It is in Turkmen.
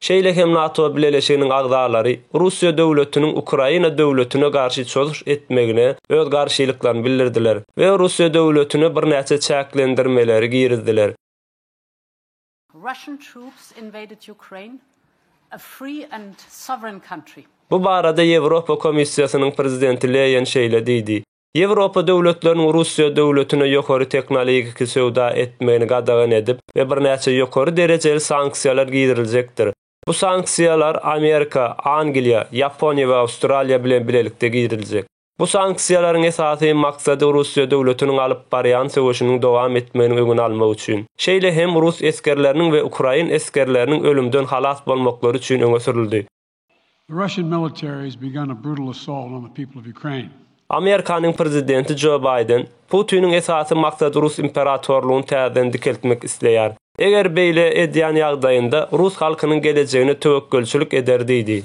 Şeýle hem NATO bileleşiginiň agzalary Russiýa döwletiniň Ukraina döwletine garşy çozuş etmegine öz garşylyklaryny bildirdiler we Russiýa döwletine birnäçe çäklendirmeleri girizdiler. Bu barada Ýewropa Komissiýasynyň prezidenti Leýen şeýle diýdi, Ýewropa döwletleriniň Russiýa döwletine ýokary teknoligiki söwda etmegini gadagan edip we birnäçe ýokary derejeli sanksiýalar giriljekdir. Bu sanksiýalar Amerika, Angliýa, Ýaponiýa we Awstraliýa bilen bilelikde giriljek. Bu sanksiýalaryň esasy maksady Russiýa döwletiniň alyp barýan söweşiniň dowam etmeginiň öňüni almak üçin, şeýle hem rus esgerleriniň we ukrain esgerleriniň ölümden halas bolmaklary üçin öňe sürüldi. The Russian military has begun a brutal assault on the people of Ukraine. Amerikanyň prezidenti Jo Baýden, Putiniň esasy maksady rus imperatorlygyny täzeden dikeltmek isleýär. Eger beýle edýän ýagdaýynda rus halkynyň gelejegine töwekgelçilik eder diýdi.